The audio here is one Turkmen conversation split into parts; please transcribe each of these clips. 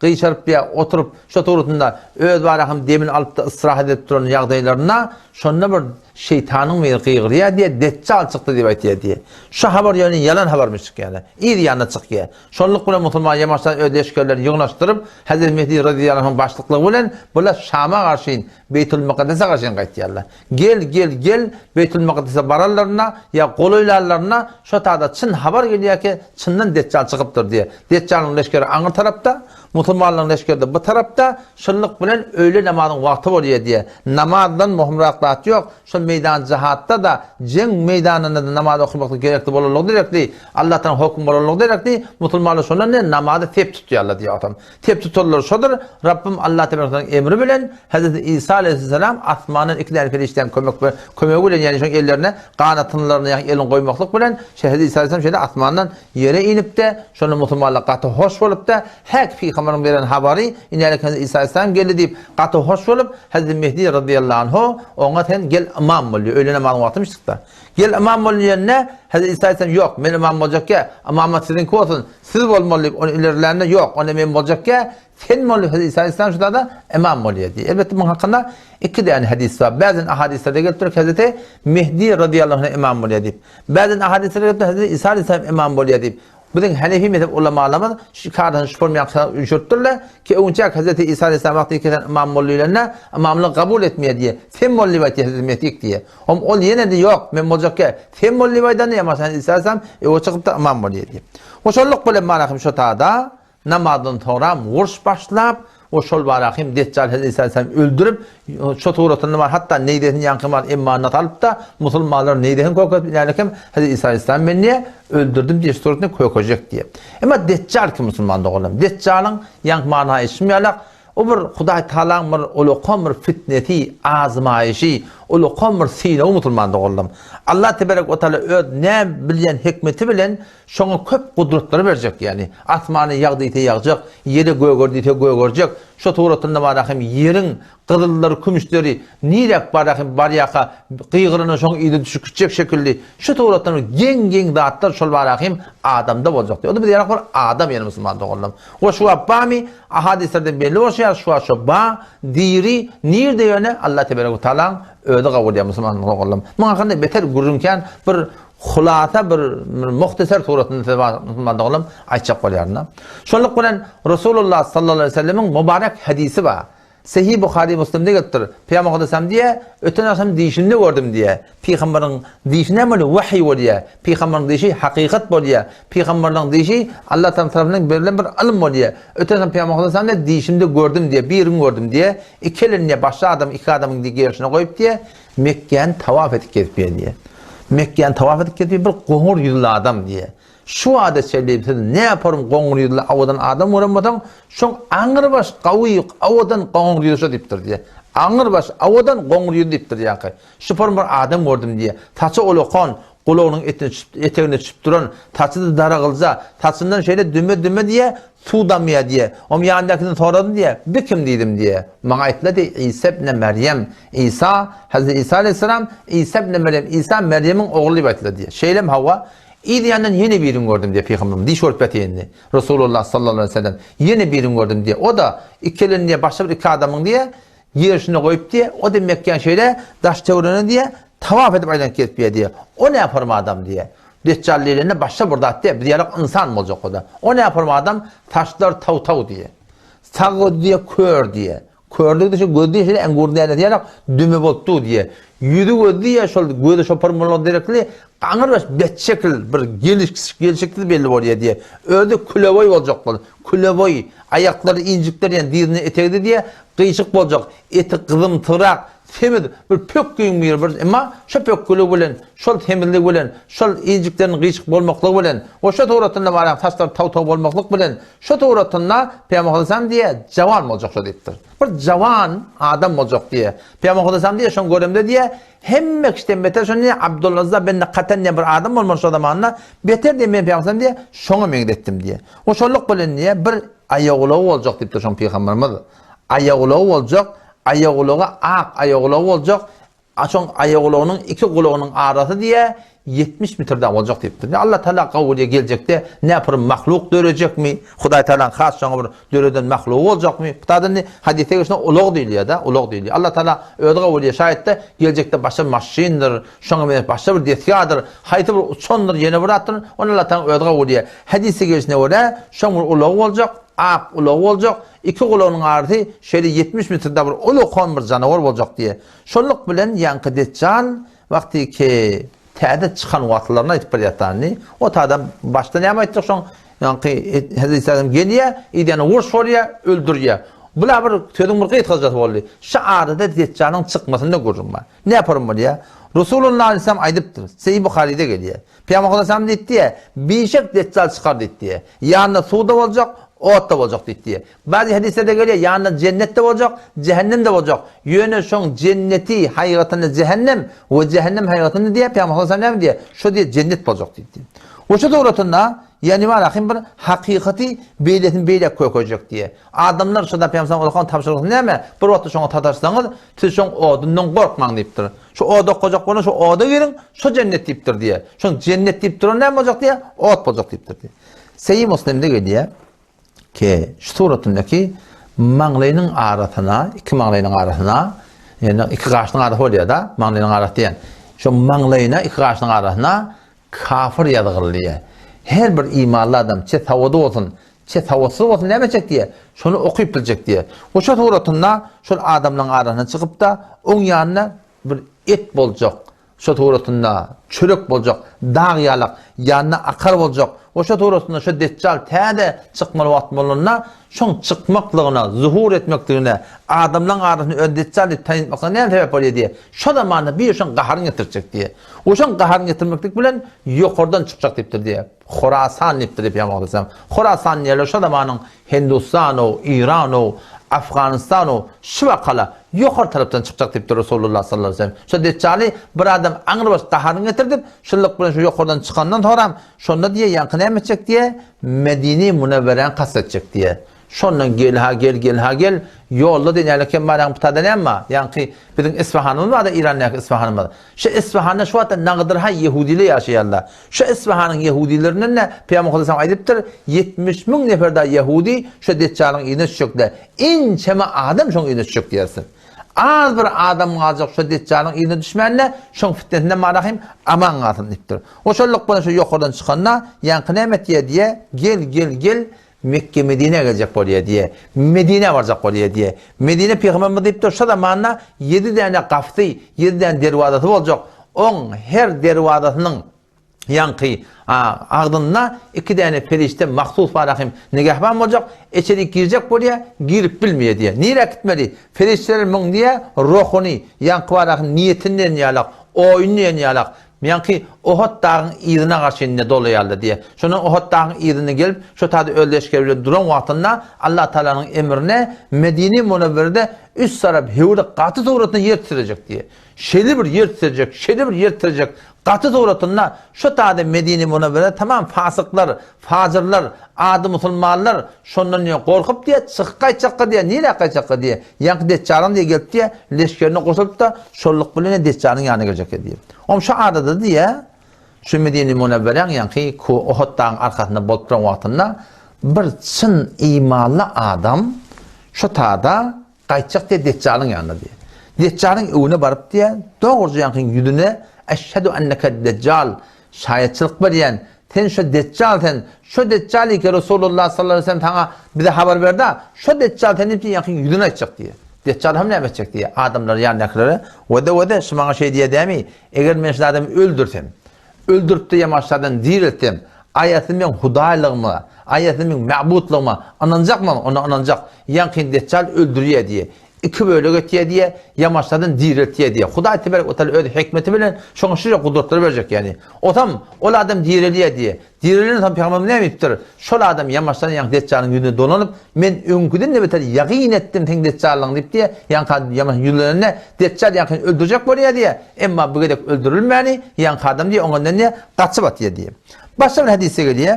Gyşaryp ýa oturyp, şo tugrusynda öz baraham demini alypda ystrahat edip duran ýagdaýlarynda, şonda bir şeýtanyň biri gygyrýa diýe, Deçjal çykdy diýip aýtýa diýe. Şu habar ýöne ýalan habarmyşyk ýa-da. Yz ýanyna çykýa. Şonluk bilen musulman ýamaçdan öz leşgerlerini ýygnaşdyryp, Hezreti Mehdi razyýallahu anh başlyklygy bilen, bula Şama garşyn Beýtulmukaddes agaçan gaýtýarlar? Gel, gel, gel, Beýtulmukaddese bararlaryna ýa golaýlarlaryna şo tada çyn habar gelýär ki, çyndan Detjal çykypdyr diýýär. Detjalyň leşgeri aňry tarapda, musulmanlaryň leşgeri-de bu tarapda, şunluk bilen öýle namazyň wagty bolýar diýýär. Namazdan möhümrak zat ýok, şol meýdan jihatda-da, jeň meýdanynda-da namaz okamaklyk gerekli bolanlygy derekli, Allatagalaň hökümi bolanlygy derekli, musulmanlar şondan ne, namazy sep tutýarlar diýýär otam. Sep tutanlar şodur, Rabbym Allah Tebarakatalaň emri bilen, Hezreti Isa Aleýhisselam asmandan iki däne perişdäniň kömek bilen, kömegi bilen, ýagny şoň ellerine ganatynlaryna ýa elini goýmaklyk bilen, şeý Hezreti Isa Aleýhisselam şeýle asmandan ýere inip-de, şonda musulmanlar gaty hoş bolup-da, Häk pygamberiň beren habary, Inelik Hezreti Isa Aleýhisselam geldi diýip, gaty hoş bolup, Hezreti Mehdi Razyýallahu anhu oňa sen gel ymam bol diýip, öýle namazynyň wagty myşdykda. Gel ymam bol diýende, Hezreti Isa aleyhisselam, Ýok, men ymam boljakkä, ymamat siziňki bolsun, siz bolmaly diýip, ony ilerlände, Ýok, onda men boljakkä, sen bol diýip, Hezreti Isa aleyhisselam şu zada ymam bolýar diýýär. Elbetde munuň hakynda iki däne hadys bar. Bäzan ahadyslerde gelipdir ki, Hezreti Mehdi radiyallahu anh ymam bolýar diýip. Bäzan ahadyslerde gelipdir, Hezreti Isa aleyhisselam ymam bolýar diýip. Biziň Hanefi mezhep ulamalarymyz şikaryny şüphe bolmaýan kysada üýşüripdirler, ki öwünçäk Hazreti Isa Aleyhisselam wagty kesen Imam Molly ölende, Imamlygy gabul etmeýär diýe, Sen Molly baý diýe Hazreti Mehdiýk diýe. Hom ol ýenede ýok, men boljak ke, Sen Molly baýdan diýe, ýa bolsa Hazreti Isa Aleyhisselam öe çykypda Imam bolýa diýe. Hoşallyk bilen Malahim şo tada, Namazdan soňram urş başlap, we şol bar ahim Deçjal Hezreti Isa Aleyhissalamy öldürip, şo suratynda bar, hatda neýzesini ýaňky bar emma nasy alypda, musulmanlaryň neýzesini kökerdip ilerlekem Hezreti Isa Aleyhissalamy men diýýä, öldürdim diýip suratyny kökejek diýýä. Emma Deçjal kim musulman doganlarym? Deçjalyň ýaňky bar naýy şum ýalak, o bir Hudaý Tagalaň bir ulokan bir fitnesi, azmaýyşy, ulokan bir synagy musulman doganlarym. Allah Teberek we Taala öz näm bilýän hikmeti bilen Şoňa köp gudratlar berjek, ýagny asmana ýag diýse ýagjak, ýere göger diýse gögerjek, şo suratynda barahym ýeriň gyzyllary, kümüşleri niräk barahym barýaka gygyrana şoň yzy düşüp gitjek şekilli şu suratdan bir geň-geň zatlar şol barahym adamda boljak diýip, onda biz ýarak bir adam ýene musulman doganlarym. We şu wagt bamy, ahadislerden belli bolşy ýaly şu wagt şo bar, diri, nirde ýöne Alla teberek we taalaň özi gabul edýär musulman doganlarym. Muňa hakynda beter gürrüň kän, bir Hulasa bir muhtasar suratynda size barada olam aýtjak bolýaryn-da. Şonluk bilen Resulullah sallallahu aleýhi we sellemiň mubarek hadysy bar. Sahyh Buhary Muslimde gelipdir. Pygamber aleyhisselam diýýär, Öten agşam dişimde gördüm diýýär. Pygamberiň dişi näme bolýar? Wahyý bolýar. Pygamberiň dişi hakykat bolýar. Pygamberligiň dişi Allah Taala tarapyndan berlen bir ylym bolýar. Öten agşam Pygamber aleyhisselam diýýär, dişimde gördüm diýýär, bir gün gördüm diýýär. Iki elini başga adam, iki adamyň gelşine goýup diýýär, Mekgäni tawaf edip gezip ýör diýýär. Mekgäni tawaf edip gezip ýör bir goňur ýüzli adam diýýär. Şu wada çenli siz näporum goňur ýüzli awadan adam gören bolsaň, şoň aňrybaş gawy awadan goňur ýüzli şo diýipdir diýýär. Aňrybaş awadan goňur ýüzli diýipdir ýaňky. Şuporum bir adam gördüm diýýär. Saçy olakan, gulagynyň etine çüp, etegine çüp duran, saçy-da daragylja, saçyndan şeýle düme-düme diýýär, Suw damýar diýe, om ýandakydan sorady diýe, bi kim diýdim diýe. Maňa aýtla diýe, Isa ibne Merýem, Isa, Hezreti Isa aleýhissalam, Isa ibne Merýem, Isa Merýemiň ogly diýip aýtla diýe. Şeýlem hawa, yz ýandan ýene birini gördüm diýe, pygamberimiz diş bolup ýatyr indi. Resulullah sallallahu aleýhi wesellem, ýene birini gördüm diýe, o-da, ikilin diýe, başda bir iki adamyň diýe, Ýerüstünde goýupdy, o demekkä şeýle, daş-töwerene diýe, tawaf edip aýlanyp gelip diýe diýe. O näforma adam diýe. Deçjal diýlende başga bir zat diýe, biz ýalak ynsan boljak o-da. O näforma adam, saçlary taw-taw diýe. Sag gözi diýe kör diýe. Körlügi de şo gözi diýe şeýle äňgüriň dänesi ýalak düme bolup dur diýe. Ýüzi gözi diýe şol gözi şopar mollaga derekli gaňyrbaş betşekil bir gelişik gelşikli belli bolýa diýe. Özi küleweý boljak bol. Küleboý, aýaklary injikler diýen dyzyny etegidi diýä, gyýçyk boljak, eti gyzymtyrak, semiz, bir pökgin biri bir, emma şo pökgiligi bilen, şol semizligi bilen, şol injikleriniň gyýçyk bolmaklygy bilen we şo suratynda baraň saçlary tag-tag bolmaklyk bilen, şo suratynda Pygamber aleyhisselam diýä, jawan boljak şo diýipdir. Bir jawan adam boljak diýä. Pygamber aleyhisselam diýä, şony göremde diýä, Hemme kişiden beter şony diýýär, Abdulazza bende katan diýen bir adam bolmaly şo zamanda, beter diýýär, men pygamberimiz diýýär, şoňa meňzetdim diýýär. We şonluk bilen diýýär, bir aýagulagy boljak diýipdir şoň pygamberimiz. Aýagulagy boljak, aýagulagy ak aýagulagy boljak, şoň aýagulagynyň iki gulagynyň arasy diýýär, Ýetmiş mitrda boljak diýipdir. Ýa Allah Taala kabul ýa geljekde näpyr mahluk dörejekmi? Hudaý Taalaň has şoňa bir döreden mahlugy boljakmy? Ptada indi hadisde geçen ulag diýilýärda, ulag diýilýär. Allah Taala özi kabul ýa şaýatda geljekde başga maşyndyr, şoňa meňzeş başga bir desgadyr, haýsy bir uçandyr, ýene bir zatdyr, ony Allah Taalaň özi kabul ýa. Hadisde gelşine görä, şoň bir ulagy boljak, ak ulagy boljak, iki gulagynyň arasy şeýle ýetmiş mitrda bir uly kon bir janawar boljak diýýär. Şonluk bilen ýaňky Detjal Wagty ki täze çykan wagtlaryny aýdyp barýatany, ot adam başda näme aýtdyk şoň ýaňky hezil salam gelýä, idene wurş bolýa, öldürýä. Bu la bir sözüň bir gysgajasy boldy. Şa arada Detjalyň çykmasyna gürrüň bar. Näparum bolýa? Rusulullah aleyhissalam aýdypdyr. Seýi Buharyda gelýä. Pyýamber aleyhissalam diýipdiä, Bişek Detjal çykar diýipdiä. Ýanynda suw-da boljak, ot-da boljak diýipdiä. Bazy hedislerde gelýär, ýanynda jennet-de boljak, jähennem-de boljak. Ýöne şoň jenneti haýygatynda jähennem we jähennem haýygatynda diýýär, Pygamber sallallahu aleýhi we sellem näme diýýär? Şo diýýär jennet boljak diýip diýýär. We şu suratyna, ýagny bar ahim bir hakykaty beýlesini beýläk kökejek diýýär. Adamlar şo Pygamber sallallahu aleýhi we sellem tabşyrgysy näme? Bir wagtda şoňa sataşsaňyz, siz şoň odundan gorkmaň diýipdir. Şo ody okajak bolan şo oda giriň, şo jennet diýipdir diýýär. Şoň jennet diýip duran näme boljak diýýär? Ot boljak diýipdir diýýär. Seýi Muslimde gelýär. Ke, şu suratyndaki maňlaýynyň arasyna, iki maňlaýynyň arasyna, ýöne iki gaşynyň arasy bolýar-da, maňlaýynyň arasy diýen. Şu maňlaýyna, iki gaşynyň arasyna kafir ýazgyldy diýýär. Her bir imanly adam, çe sawady bolsun, çe sawatsyz bolsun näme etjek diýýär? Şony okyp biljek diýýär. We şu suratynda şol adamlaryň arasyna çykyp-da, oň ýanynda bir et boljak, Şo tugrasynda çörek boljak dag ýalak, ýanynda akar boljak we şo tugrasynda şo Deçjal täze çykmaly wagt bolanda, şoň çykmaklygyna, zuhur etmekligine, adamlaň arasynda özi Deçjal diýip taýyn etmekligine näme sebäp bolýar diýýär. Şo zamanda bir şoň gaharyny getirjek diýýär. We şoň gaharyny getirmeklik bilen ýokardan çykjak diýipdir diýýär. Horasan diýip bilip ýamak isleseň. Horasan ýerler şo zamanyň Hindustanu, Iranu, Afganystanu şu wakala ýokary tarapdan çykjak diýipdir Resulullah sallallahu aleýhi we sellem. Şo Deccaly bir adam aňrybaş gaharyny getirdip, şullyk bilen şu ýokardan çykandan soňam, şonda diýýär, ýaňky näme etjek diýýär, Medini Munewweräni kast etjek diýýär. Şondan gel-ha gel, gel-ha gel, ýolda dünýäni kim bar, ýaňky pitada näme bar? Ýaňky biziň Isfahanymyz bar-da, Yrandaky Isfahanymyz. Şo Isfahanda şu wagtda nagydyrha ýehudiler ýaşaýarlar. Şo Isfahanyň ýehudilerinden-de Pygamber Mukaddesäm aýdypdyr, ýetmiş müň nefer dagy ýehudi şo Detjalyň yzyna düşjekler. Ençeme adam şoň yzyna düşjek diýersiň. Az bir adam galjak şo Detjalyň yzyna düşmände, şoň fitnesinden Marahym aman galsyn diýipdir. Oşanlyk bilen şo ýokardan çykanda, ýaňky näme etýär diýýär, gel, gel, gel, Mekge Medinä geljek bolýa diýe, Medinä barjak bolýa diýe. Medine pygamberimiz diýipdir, şu zamanda ýedi däne gapysy, ýedi däne derwazasy boljak, oň her derwazasynyň ýanky agzynda iki däne perişde mahsus barahym nigehban boljak, eçerik girjek bolýa, girip bilmeýä diýe. Nirä gitmeli? Perişdeler muň diýe rohuny, ýanky barahym niýetini diýen ýalak, oýuny diýen ýalak, Ýaňky Ohot dagyň yzyna garşy indi dolaýarlar diýýä. Şonda Ohot dagyň yzyna gelip, şo taýda öz leşgeri bilen duran wagtynda, Allatalanyň emrine Medine-i Munewwerede üç tarap höwri gaty suratynda ýer titrejek diýýä. Şeýle bir ýer titrejek, şeýle bir ýer titrejek, gaty suratynda, şo taýda Medine-i Munewwerede tamam fasyklar, Fajyrlar, ady musulmanlar, şondan diýýär, gorkup diýýär, çykyp gaýtjakka diýýär, nirä gaýtjakka diýýär, ýaňky Deçjalyň diýýär gelip diýýär, leşgerine goşulyp-da, şollyk bilen diýýär Deçjalyň ýanyna geljekkä diýýär. Oň şo adady diýýär, şu Medine-i Munewweräň ýaňky Uhud dagyň arkasynda bolup duran wagtynda bir çyn imanly adam şo tada Gaýtjak diýýär Detjalyň ýanyna diýýär. Detjalyň öwüne baryp diýýär, Dogrujaňkyň ýüzüne Eşhedü enneked Detjal, şaýatçylyk berýän, sen şo Detjal sen, şo Detjal ýeke Resulullah sallallahu aleýhi we sellem saňa, bize habar berdi-ä, şo Detjal sen diýip ýaňkyň ýüzüne aýtjak diýýär. Detjal hem näme etjek diýýär, adamlara ýanydakylary, Wede-wede, şu maňa şeý diýýär dämi, eger men şu adamy öldürsem, Öldüripdir ýamaşjadan direltsem, Aýasy meň hudaýlygyma, Aýasy meň mäbutlygyma ynanjakmyň? Onda ynanjak. Ýaňky Deçjal öldürýär diýýär. Iki bölek etýär diýýär, ýamaşjadan direltýär diýýär. Hudaý tebarek we taala öz hikmeti bilen şoňa şeýle gudratlary berjek ýaly. Otam, ol adam direlýär diýýär. Direlen soň pygamberimiz näme diýipdir? Şol adam ýamaçdan-ýaňky Detjalyň ýüzüne dolanyp, Men öňküden-de beter ýagyn etdim seň Detjallygyňy diýip diýýär. Ýaňky adam ýamaçdan ýüzlenende, Detjal ýaňkyny öldürjek bolýar diýýär. Emma bu gezek öldürilmäni, ýaňky adam diýýär, oňandan diýýär, gaçyp atýar diýýär. Başga bir hadysda gelýär,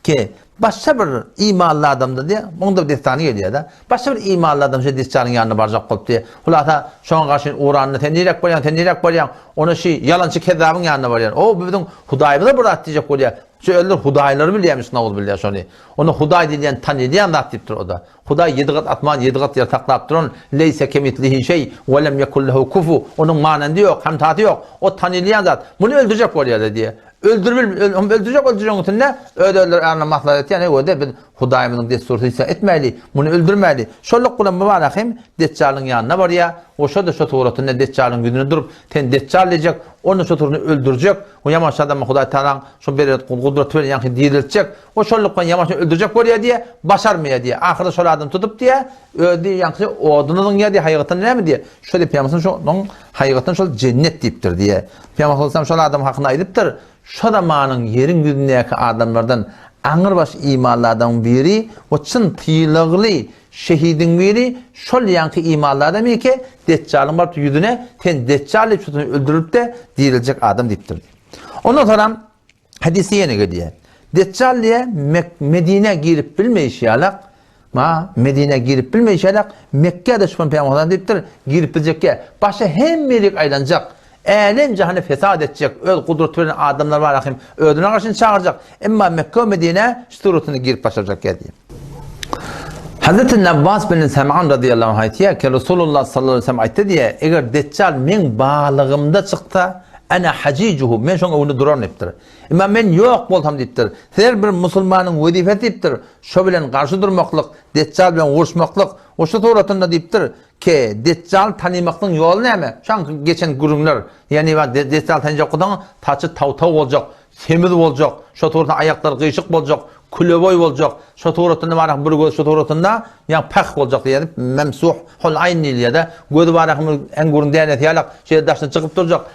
ki, başga bir imanly adamda diýýär, munuň-da bir dessany gelýär-de, Başga bir imanly adam şo Dejjalyň ýanyna barjak bolupdy. Hulasa, şoňa garşyn uranyna sen niräk barýaň, sen niräk barýaň, onda şi ýalançy kezzabyň ýanyna barýan. O, bu biziň Hudaýymyza bir zat diýjek bolýa. Şo özleri hudaýlary bilýämiş nauzbillah şony. Onda Hudaý diýilýän tan edýän zat diýipdir o-da. Hudaý ýedi gat asman, ýedi gat ýer saklap duran, Leýse kemislihi şeý, we lem ýekun lehu kufu, onuň manendy ýok, hemtasy ýok, o tan edilýän zat. Muny öldürjek bolýarlar diýýä. Öldürbil, öldürjek öldürjegiň üstünde öz-özleri aralarynda maslahat etýän, eý, o-de biz Hudaýymyzyň dessuryny risa etmäýli, muny öldürmäýli. Şonluk bilen Mubarak hem Detjalyň ýanyna barýar we şo-da şo suratynda Detjalyň ýüzüne durup, Sen Detjal diýjek, onda şo turuny öldürjek we ýaman şu adamy Hudaý Tagalaň şo beren gudraty bilen ýaňky diriltjek we şonluk bilen ýaman şony öldürjek bolýar diýýär, başarmaýar diýýär. Ahyrda şol adamy tutup diýýär, özi diýýär, ýaňky oduna zyňýar diýýär, hakykatyny näme diýýär? Şo diýýär, Pygamber sallallahu aleyhi ve sellem şonuň hakykatyny şol jennet diýipdir diýýär. Pygamber sallallahu aleyhi ve sellem şol adamyň hakyny aýdypdyr, Şo zamanyň ýeriň ýüzündäki adamlardan aňrybaş imanly adamyň biri we çyn sylagly şehidiň biri şol ýaňky imanly adam eke, Detjalyň baryp ýüzüne, Sen Detjal diýip, şotuny öldürilip-de diriljek adam diýip durdy. Ondan soram hadysda ýene gelýär. Detjal diýýär, Mek-Medinä girip bilmeýşi ýalak, Ma, Medinä girip bilmeýşäl-ak, Mekgä-de şupan Pygamberhazan diýipdir, girip biljekkä, başa hemme ýerik aýlanjak, älem-jahany fesat etjek, öz gudraty bilen adamlary bary hem özüne garşyny çagyrjak, emma Mekge we Medinä şu suratynda girip başarjakkä diýip. Hazreti Nawwas bin Sem'an radyýallahu anh aýtýar ki, Resulullah sallallahu aleyhi ve sellem aýtdy diýýär, eger Deccal meň balygymda çyksa, Ana hacicuhu, men şoň öňünde duraryn diýipdir. Emma men ýok bolsam diýipdir, her bir musulmanyň wezipesi diýipdir, Şo bilen garşy durmaklyk, Detjal bilen uruşmaklyk. O şu suratynda diýipdir, Ke, Detjaly tanymaklygyň ýoly näme? Şaňky geçen gürrüňler. Ýagny bar, Detjaly tanyjak bolsaň, saçy tagtaw boljak, semiz boljak, şo suratynda aýaklary gyşyk boljak, küleboý boljak, şo suratynda bar bir göz şu suratynda, ýagny päh boljak diýýär, memsuhul aýn diýilýär-de, gözi bar ähli bir äňgüriň dänesi ýalak, şeýle daşyna çykyp durjak,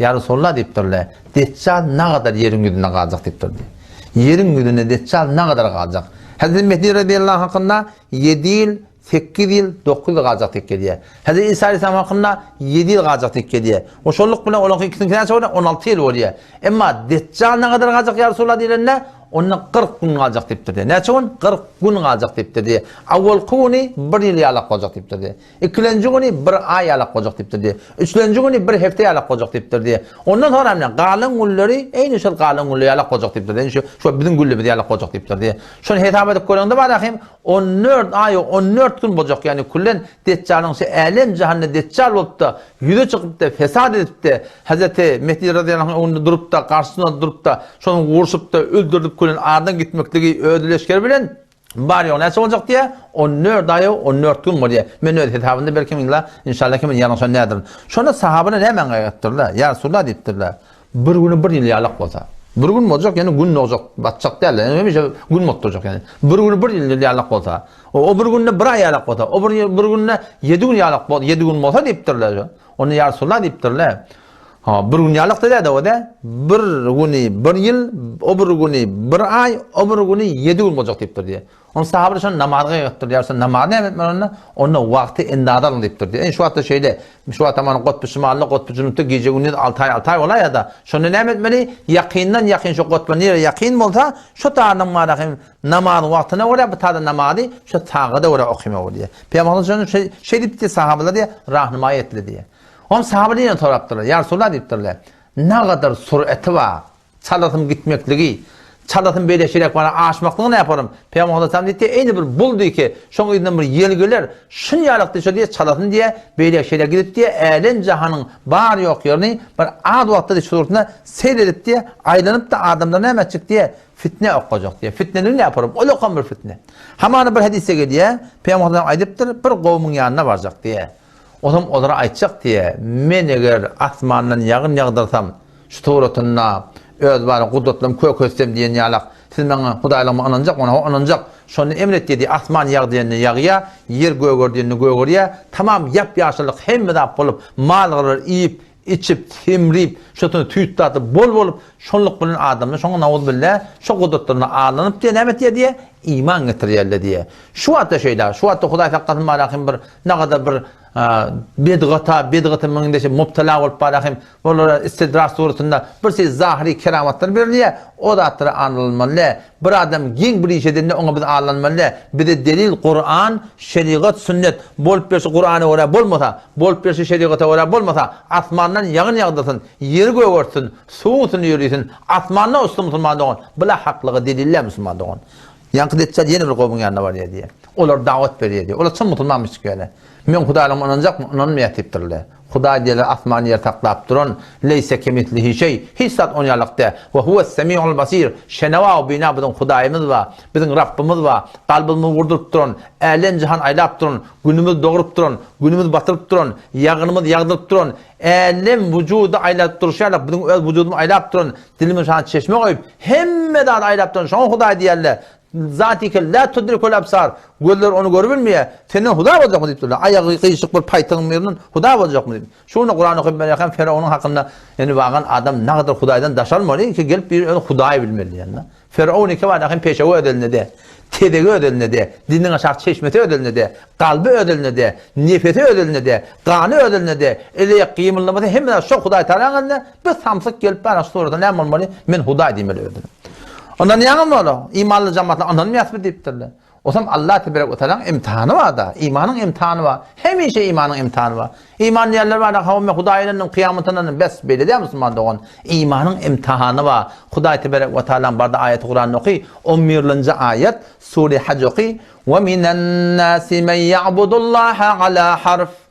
Ýa Resulalla diýip durdy. Detjal nagadar ýeriň ýüzünde galjak diýip durdy. Ýeriň ýüzünde Detjal nagadar galjak? Hezreti Mehdi razyýallahu anh hakynda ýedi ýyl, sekiz ýyl, dokuz ýyl galjak diýip gelýär. Hezreti Isa alaýhyssalam hakynda ýedi ýyl galjak diýip gelýär. Ol şonluk bilen olaňky ikisiniňki näçe bolýar? On alty ýyl bolýar. Emma Detjal nagadar galjak ýa Resulalla diýlende, onda kyrk gün galjak diýip durdy. Näçe gün? Kyrk gün galjak diýip durdy. Awwalky güni bir ýyl ýalak boljak diýip durdy. Ikilenji güni bir aý ýalak boljak diýipdir diýýär. Üçlenji güni bir hepde ýalak boljak diýipdir diýýär. Ondan soňra hem galan günleri eýni şol galan günler ýalak boljak diýipdir diýýär. Şu şu biziň günlerimiz ýalak boljak diýipdir diýýär. Şony hesap edip göreňde barahym on dört aýy on dört gün boljak ýagny küllen Detjalyň şu älem jahanda Detjal bolupda ýüze çykypda fesat edipde Hazreti Mehdi razyýallahu anh öňünde durupda garşysynda durupda şonuň urşupda öldürdip küllen aradan gitmekligi öz leşgeri bilen Bar ýogy näçe boljak diýýär? On dört aý, on dört gün bolýa. Men öz hesabymda bir kimin la, inşallah kimin ýalan şony nädirin. Şonda sahabalar nämäni gaýgyrypdyrlar? Ýa Resulullah diýipdirler. Bir güni bir ýyl ýalak bolsa. Bir gün boljak, ýöne gün dogjak, batjak däl. Hemişe gün bolup durjak ýöne. Bir güni bir ýyl ýalak bolsa. O bir günde bir aý ýalak bolsa. O bir günde ýedi gün ýalak bolsa, ýedi gün bolsa diýipdirler. Onda ýa Resulullah diýipdirler. Ha, bir gün ýalak dälä-de o-da, bir güni bir ýyl, o bir güni bir aý, o bir güni ýedi gün boljak diýipdir diýýär. Onda sahabalar şony namaza gygyrypdyr, ýa sen namazy näme etmeli onda? Onda wagty endaza alyň diýipdir diýýär. Ine şu wagtda şeýle, şu wagtda mana gutby şymalla, gutby junupda gije-gündiz alty aý, alty aý bolaý ýa-da, şonda näme etmeli? Ýakyndan ýakyn şu gutba nirä ýakyn bolsa, şo taýdan baraý hem namazyň wagtyna görä bu taýdan namazy şo sagada görä okamaly diýýär. Pygamberimiz şeýdip diýýär, sahabalar diýýär, rahnumaý etdiler diýýär. Ony Sabyr ýene sorapdyr, Ýa Resulalla diýipdir-de, Nagadyr süräti bar? Çalasym gitmekligi, çalasym beýle şirek bana aşmaklygy näparum? Pygamber sallallahu aleyhi ve sellem diýipdir, Eýni bir bul diýki, şoň yzyndan bir ýel geler, şun ýalyk düşer diýe çalasyn diýe, beýle şirek gidip diýe älem-jahanyň bar-ýok ýerini bir az wagtda diýe çuzursynda seýr edip diýe, aýlanyp-da adamlar näme etjek diýe, fitne okajak diýe. Fitneligi näparum? Ol-a kom bir fitne. Hamana bir hedisde gelýär, Pygamber sallallahu aleyhi ve sellem aýdypdyr, Bir gowumyň ýanyna barjak diýe. Olam olara aýtjak diýýär, Men eger asmandan ýagyn ýagdyrsam, şu suratynda Öz bar gudratlarym kök ötsem diýen ýalak, siz Meň Hudaýlygyma ynanjakmy? Hawa, ynanjak. Şonda emr et diýdi. Asman ýag diýende ýagýar, ýer göger diýende gögerýär. Tamam ýap-ýaşyllyk, hemme zat bolup, mal-garlar iýip, Içip, semrip, şotuny tüýt dady bol bolup, şonluk bilen adamlar şoňa nauzbillah, şo gudratlaryna alnynyp diýe, näme etýär diýe, iman getirýärler diýe. Şu wagtda şeýle, şu wagtda Hudaý saklasyn barahym bir nagadar bir bidgata, bidgata müň deşe mubtala bolup barahym, olara istidraç suratynda bir siz zahyry keramatlar berilýär, o zatlara alynylmaly, Bir adam geň bir iş edende oňa biz aldanmaly däl. Bize delil Kuran, şerigat, sünnet. Bolup berşi Kurana görä bolmasa, bolup berşi şerigata görä bolmasa, asmandan ýagyn ýagdyrsyn, ýeri gögertsin, suwy üstüne ýörisin, asmanda uçsun musulman dogan. Bula haklyga delil däl musulman dogan. Ýaňky Detjal ýene bir kowumyň ýanyna barýar diýýär. Olar dawat berýär diýýär. Olar çyn musulmanmyş çykyýarlar. Men Hudaýlygyma ynanjakmy, ynanmaýar diýip durlar. Hudaý diýlen asman ýer saklap duran, Leýse kemislihi şeý, hiç zat oň ýalak dä, Wa huwes semiul basir, şenawa we bina biziň Hudaýymyz bar, biziň Rabbymyz bar, kalbymyzy gurduryp duran, älem jahan aýlap duran, günümiz dogrup duran, günümiz batyryp duran, ýagynymyz ýagdyryp duran, älem wujudy aýlap durşy ýalak biziň öz wujudymyz aýlap duran, dilimiz şan çeşme goýup, hemme zady aýlap duran şoňa Hudaý diýerler, Zatike la tudrikul absar, Gözler ony görübilmeýär. Senden huda boljakmy diýip durlar. Aýagy gyýşyk bir paýtygyň biriniň huda boljakmy diýip. Şu günde Kurany okap berýärkäm Feraonyň hakynda indi bagan adam nagadyr hudaýdan daş almaly, ilki gelip biri özi hudaý bilmeli diýýända. Feraony iki barada hem peşewa öz elinde däl. Tezegi öz elinde däl. Diliniň aşak çeşmesi öz elinde däl. Kalby öz elinde däl. Nefesi öz elinde däl. Gany öz elinde däl. Eleyek gymyldamasy hemme zat şo hudaýtalaň elinde. Bir samsyk gelip bana sorada näme bolmaly? Men Hudaý diýmeli özüne. Onda näme bolar? Imanly jemaatlar ynanmaýasmy diýipdirler. Osam Allah tebarek we taala imtihany bar-da, imanyň imtihany bar. Hemişe imanyň imtihany bar. Iman diýenler bar-da, hawa men Hudaýa inandim, kyýamata inandim, bes, beýle däl musulman dogan. Imanyň imtihany bar. Hudaý tebarek we taala barda aýaty Kuranda oky, 11-nji aýat, Sure Hac oky, Ve minan nasi men ya'budullaha ala harf.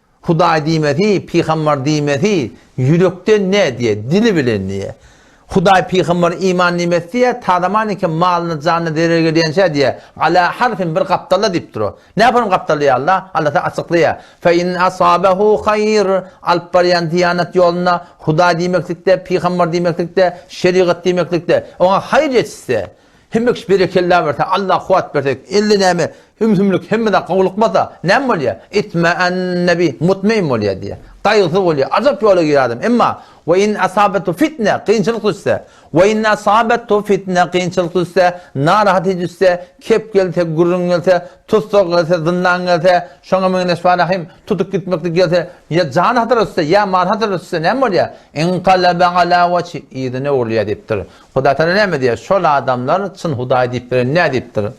Hudaý diýmesi, pygambar diýmesi ýürekden ne diýe, dili bilen diýe. Hudaý pygambar iman diýmesi diýe, tazaman eken malyna janyna zerer gelýänçä diýe, ala harfin bir gapdalla diýipdir o. Nähorun gapdalla alla, alla sa açyklaýa, fe in asabehu haýr, alyp barýan diýanat ýoluna, Hudaý diýmeklikde, pygambar diýmeklikde, şerigat diýmeklikde, oňa haýyr ýetişse, Hemme kişi berekella berse, Allah kuwat berse, elde näme, hümsümlik hemme zat howlukmasa, näme bolýar? Itma'annabi, mutmain bolýar diýýär. Gaýgysyz bolýar, ajap ýola girýär adam. Emma, we in asabatu fitne, kynçylyk düşse, we in asabatu fitne, kynçylyk düşse, narahaty düşse, kep gelse, gürrüň gelse, tussag gelse, zyndan gelse, şoňa meňe neşbarahyň tutup gitmeklik gelse, ýa jany hatara düşse, ýa maly hatara düşse, näme bolýar? Inqalaba ala wajhi, yzyna öwrülýär diýipdir. Hudaý Tagala näme diýýär? Şol adamlar çyn Hudaý diýip bilen nä diýipdir?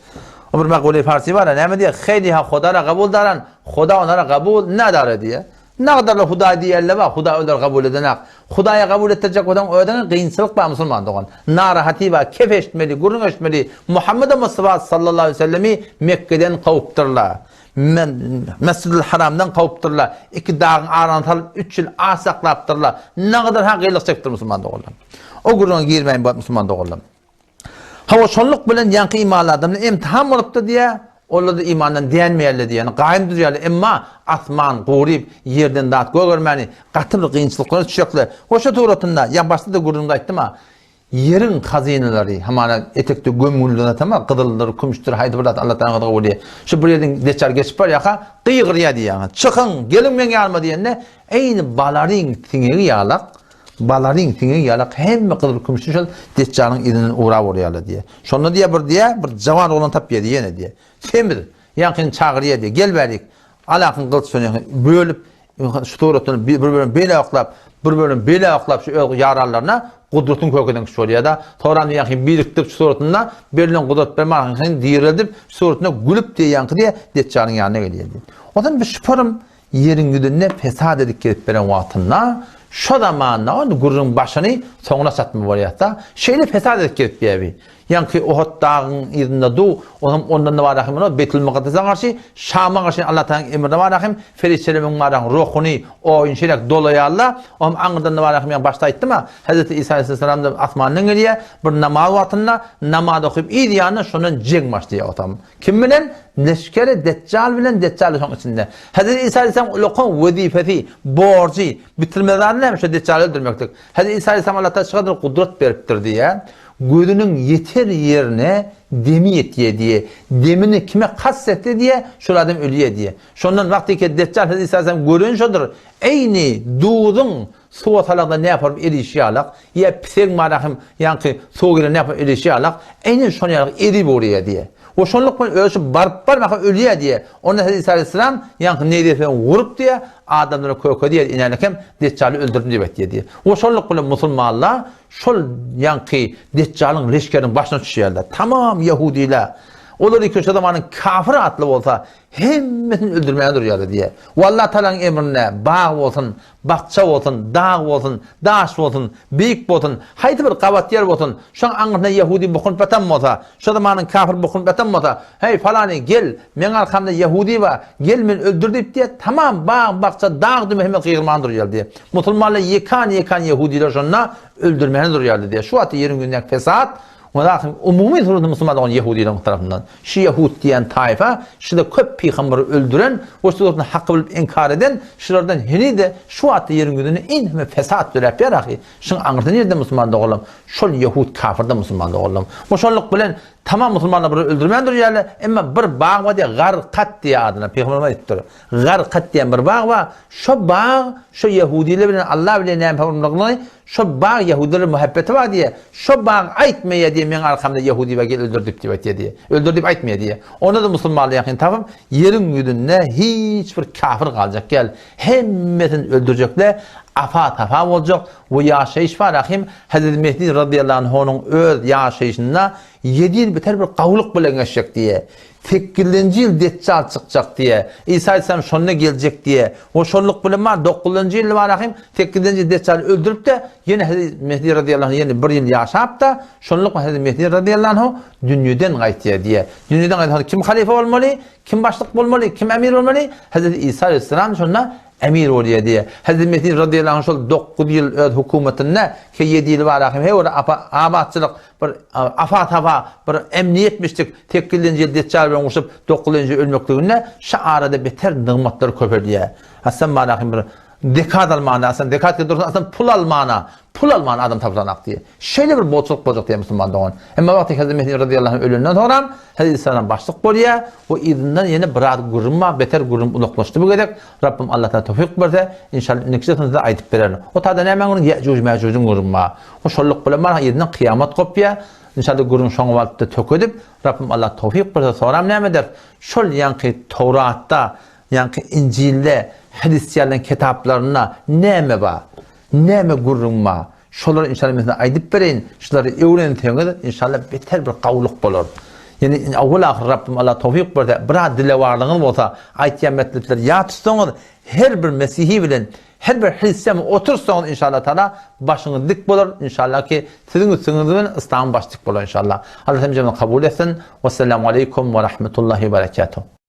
O bir maguly farsy bar-a, näme diýýär? Heýli ha Hudara gabul daran, Huda onara gabul nädara diýýär. Nagdarlar Hudaý diýýärler wah, Hudaý olary gabul edenak. Hudaýa gabul etdirjek bolsaň, özüňe gynçylyk bar musulman dogan. Narahaty bar, kep eşitmeli, gürrüň eşitmeli. Muhammede Mustafa sallallahu aleýhi we sellemi Mekgeden kowupdyrlar. Men Mesjidül Haramdan kowupdyrlar, iki dagyň arasyna salyp, üç ýyl aç saklapdyrlar. Ne gadar ha gyýylyk çekdir musulman doganlarym. O gürrüňe girmäýin bu wagt musulman doganlarym. Hawa şonluk bilen ýaňky imanly adamlar imtihan bolupdyr diýýä, olarda imandan dänmeýärler diýýäni gaýym durýarlar, emma asman guryp, ýerden zat gögermäni, gaty bir gynçylyklara düşjekler. Goşa suratynda, ýa başda-da gürrüňde aýtdym-a, Ýeriň hazynalary, hamana, etekde gömgünli zat ama, gyzyldyr, kümüşdir, haýsy bir zat Alla Tagalaň yzy gowy diýýär. Şu bir ýerden deçar geçip barýarka, gygyrýar diýýär. Çykyň, geliň meň ýanyma diýende, eýni balaryň siňegi ýalak, balaryň siňegi ýalak hemme gyzyl-kümüşli şol deçjalyň yzyndan ugrap urýarlar diýýär. Şonda diýýär, bir diýýär, bir jawan oglan tapýar diýýär, ýene diýýär. Semiz, ýaňkyny çagyrýar diýýär, gel bärik, Alakyň gylyç sönýäňi bölüp, şu suratdan bir bölüm beýle oklap, bir bölüm beýle oklap şu öz ýararlaryna gudratyň kökeden kişi bolýada. Soran diýýäňki birikdirip şu suratynda berlen gudrat bilen maňhyň direldip şu suratynda gülüp diýýäňki diýe Deçjalyň ýanyna gelýär diýip. Onsoň bir şypyrym ýeriň ýüzünde fesat edip gezip beren wagtynda şo zamanda onda gürrüň başyny soňuna çatma bolýasda şeýle fesat edip gezip ýäbi. Ýaňky Uhud dagyň yzynda duw, onuň ondan-da barýaky muny Beýtulmukaddese garşy, Şama garşy Allatagalaň emrine barýakym, Ferişdeler meň barýagym ruhuny, oýun şeýläk dolaýarlar, onuň aňyrdan-da barýakym ýaňy başda aýtdym-a, Hezreti Isa Aleyhisselam-da asmandan gelýär, bir namaz wagtynda, namaz okyp yz ýanyna, şondan jeň başlaýar otam. Kim bilen? Leşgeri Detjal bilen, Detjal-da şoň içinde. Hezreti Isa Aleyhisselam ulakan wezipesi, borjy, bitirme zady näme, şo Detjaly öldürmeklik. Hezreti Isa Aleyhisselam Allatagala şygadyr gudrat beripdir diýýär. Gözüniň ýeter ýerine demi ýetýär diýýär. Demini kime kast etse diýýär, şol adam ölýär diýýär. Şondan wagtyky Detjal Hezreti Isa Aleyhissalam gören şodur, Eýni duzuň suwa salanda näformy erişi ýalak, ýa pisek marahym ýaňky suwa girende näformy erişi ýalak, eýne şonuň ýaly erip ugraýar diýýär. We şonluk bilen özi şu baryp barmaka ölýär diýýär. Onda Hezreti Isa Aleyhissalam ýaňky neýzesi bilen urup diýýär, adamlara köke diýýär, Inälikem Detjaly öldürdim diýip aýtýar diýýär. We şonluk bilen musulmanlar Şol ýaňky Detjalyň leşgeriniň başyna düşýärler. Tamam ýehudylar. Olar ilkinji zamanyň kafiri atly bolsa, hemmesini öldürmäge durýarlar diýýär. We Allatagalaň emrine bag bolsun, bakja bolsun, dag bolsun, daş bolsun, beýik bolsun, haýsy bir gabat ýer bolsun, şoň aňyrsynda ýehudy bukunyp ýatan bolsa, şo zamanyň kafiri bukunyp ýatan bolsa, Heý, palany, gel, meň arkamda ýehudy bar, gel, meni öldür diýip diýýär. Tamam, bag-bakja, dag-düme hemme gygyrman durýar diýýär. Musulmanlar ýekan-ýekan ýehudylar şonda öldürmäne durýardy diýýär. Şu wagtda ýeriň ýüzündäki fesat, Hudaýyň umumy surata musulman bolan ýehudylaryň tarapyndan. Şu ýehut diýýän taýfa, şu-da köp pygamberi öldüren we şu zatdan haky bilip inkar eden, şulardan heniz-de şu wagtda ýeriň ýüzünde iň heme fesat döräp ýör ahy. Şuň aňyrsy nirde musulman doganlarym? Şol ýehut kafirde musulman doganlarym. Mu şonluk bilen Tamam musulmanlar bir öldürmän durýarlar, emma bir bag bar diýýär, Garkat diýýär adyna, pygamberimiz aýdypdyr. Garkat diýen bir bag bar, şo bag şo ýehudylar bilen Allah bilen näme hurmlygyny, şo bag ýehudylara muhabbeti bar diýýär. Şo bag aýtmaýar diýýär, meň arkamda ýehudy bar, gel öldür dip diýip aýtýar diýýär. Öldür dip aýtmaýar diýýär. Onda-da musulmanlaýankini tapyp, ýeriň ýüzünde hiç bir kafir galjak däl, hemmesini öldürjekler, apa-sapa boljak, Bu ýaşaýyş barada hem Hezreti Mehdi radyýallahu anhonyň öz ýaşaýşynda Ýezid biter bir gawulyk bilen geçjek diýýär. Sekizlenji ýyl Detjal çykjak diýýär. Isa aleyhissalam şonda geljek diýýär. We şonluk bilen bar dokuzynjy ýyl barada hem sekizlenji Detjaly öldürip-de, ýene Hezreti Mehdi radyýallahu anh ýene bir ýyl ýaşap-da, şonluk bilen Hezreti Mehdi radyýallahu anhu dünýeden gaýtýar diýýär. Dünýeden gaýdan soň kim halypa bolmaly? Kim başlyk bolmaly? Kim emir bolmaly? Hezreti Isa aleyhissalam şonda Emir bolýar diýýär. Hezreti Mesih radiyallahu anh şol dokuz ýyl öz hukumatynda ke ýedi ýyly bar ahyryn he ora apa abatçylyk bir apa sapa bir emni ýetmişdik sekizlenji ýyl deçjal bilen urşup dokuzynjy ölmekliginde şa arada beter nygmatlar köpelýär. Aslan bar ahyryn bir dekad almana aslan dekad ke dursun aslan pul almana Pul alman adam tapylanok diýip, şeýle bir bolçulyk boljak diýýär musulman dogan. Emma wagty Hezret Mehdi radyýallahu anh ölenden soňam, Hezret Issalam başlyk bolýar we yzyndan ýene biraz gürrüň bar, beter gürrüň uzaklaşdy bu gezek. Rabbym Alla Taala towfyk berse, inşallah indiki jylsam size aýdyp bererin. O taýda nämäň gürrüňi? Ýe'juj-Me'jujuň gürrüňi bar. O şonluk bilen barha yzyndan kyýamat gopýar. Inşallah gürrüňi şoňa barypdyr tökezip, Rabbym Alla towfyk berse soram näme ederis? Şol ýaňky Towratda, ýaňky Injilde, Hristianlaryň kitaplarynda näme bar? Näme gürrüň bar? Şolary inşallah men size aýdyp bereýin, şulary öwrenseňiz inşallah beter bir gawulyk bolar. Ýene awwal ahyr Rabbim Allah towfyk berse, biraz dilewarlygyňyz bolsa, aýtýan metlepleri ýat tutsaňyz, her bir mesihi bilen, her bir hristian oturtsaňyz inşallah taala başyňyz dik bolar, inşallah ki siziň üstüňiz bilen yslamyň başy dik bolar inşallah. Allah hemjemizi kabul etsin. Wesselamu aleýkum we rahmetullahi we berekatuh.